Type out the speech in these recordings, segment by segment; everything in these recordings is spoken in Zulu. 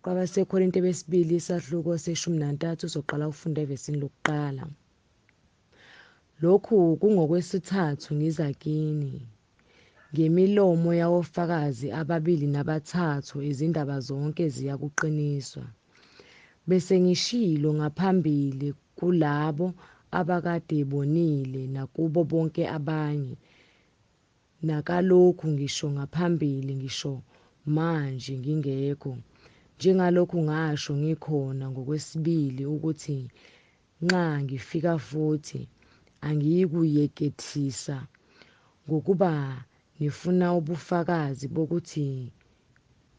KwabaseKorinte besibili isahluko seshumi nantathu soqala ukufunda evesini lokuqala. Lokhu kungokwesithathu ngiza kini. Ngemilomo yawofakazi ababili nabathathu izindaba zonke ziyakuqiniswa. Bese ngishilo ngaphambili kulabo abakade bonile nakubo bonke abanye nakalokhu ngisho ngaphambili ngisho manje ngingekho, njengalokhu ngasho ngikhona ngokwesibili ukuthi nxa ngifika futhi angiyikuyekethisa, ngokuba ngifuna ubufakazi bokuthi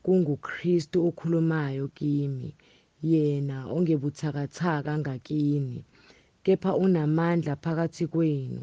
kunguKristu okhulumayo kimi, yena ongebuthakathaka ngakini, kepha unamandla phakathi kwenu,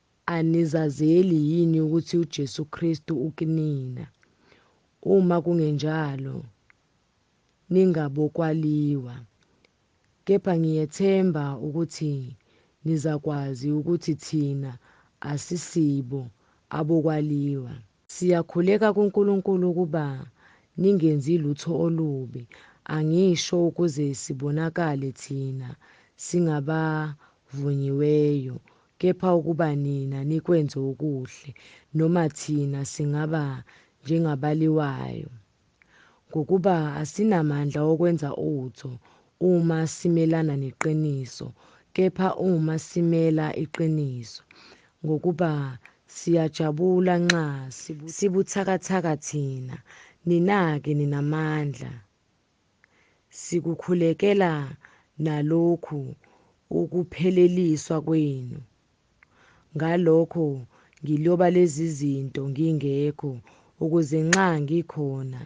Anizazeli yini ukuthi uJesu Kristu ukinina? Uma kungenjalo, ningabokwaliwa. Kepha ngiyethemba ukuthi nizakwazi ukuthi thina asisibo abokwaliwa. Siyakhuleka kuNkulunkulu ukuba ningenzi lutho olubi, angisho ukuze sibonakale thina singabavunyiweyo, kepha ukuba nina nikwenze okuhle, noma thina singaba njengabaliwayo. Ngokuba asinamandla okwenza utho uma simelana neqiniso, kepha uma simela iqiniso. Ngokuba siyajabula nxa sibuthakathaka thina, nina-ke ninamandla. Sikukhulekela nalokhu ukupheleliswa kwenu. Ngalokho ngiloba lezi zinto ngingekho, ukuze nxa ngikhona,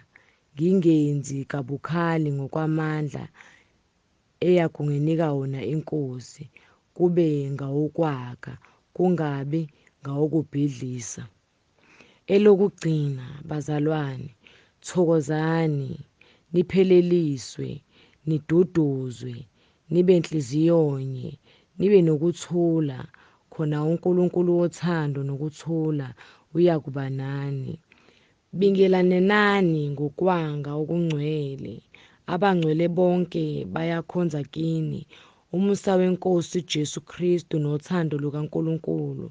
ngingenzi kabukhali ngokwamandla eyakunginika wona iNkosi, kube ngawokwakha, kungabi ngawokubhidlisa. Elokugcina bazalwane, thokozani, nipheleliswe, niduduzwe, nibe nhliziyonye, nibe nokuthula, khona uNkulunkulu wothando nokuthula uyakuba nani. Bingelanenani ngokwanga okungcwele, abangcwele bonke bayakhonza kini, Umusa weNkosi uJesu Kristu nothando lukaNkulunkulu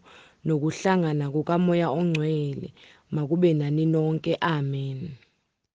nokuhlangana kukaMoya oNgcwele makube nani nonke. Amen.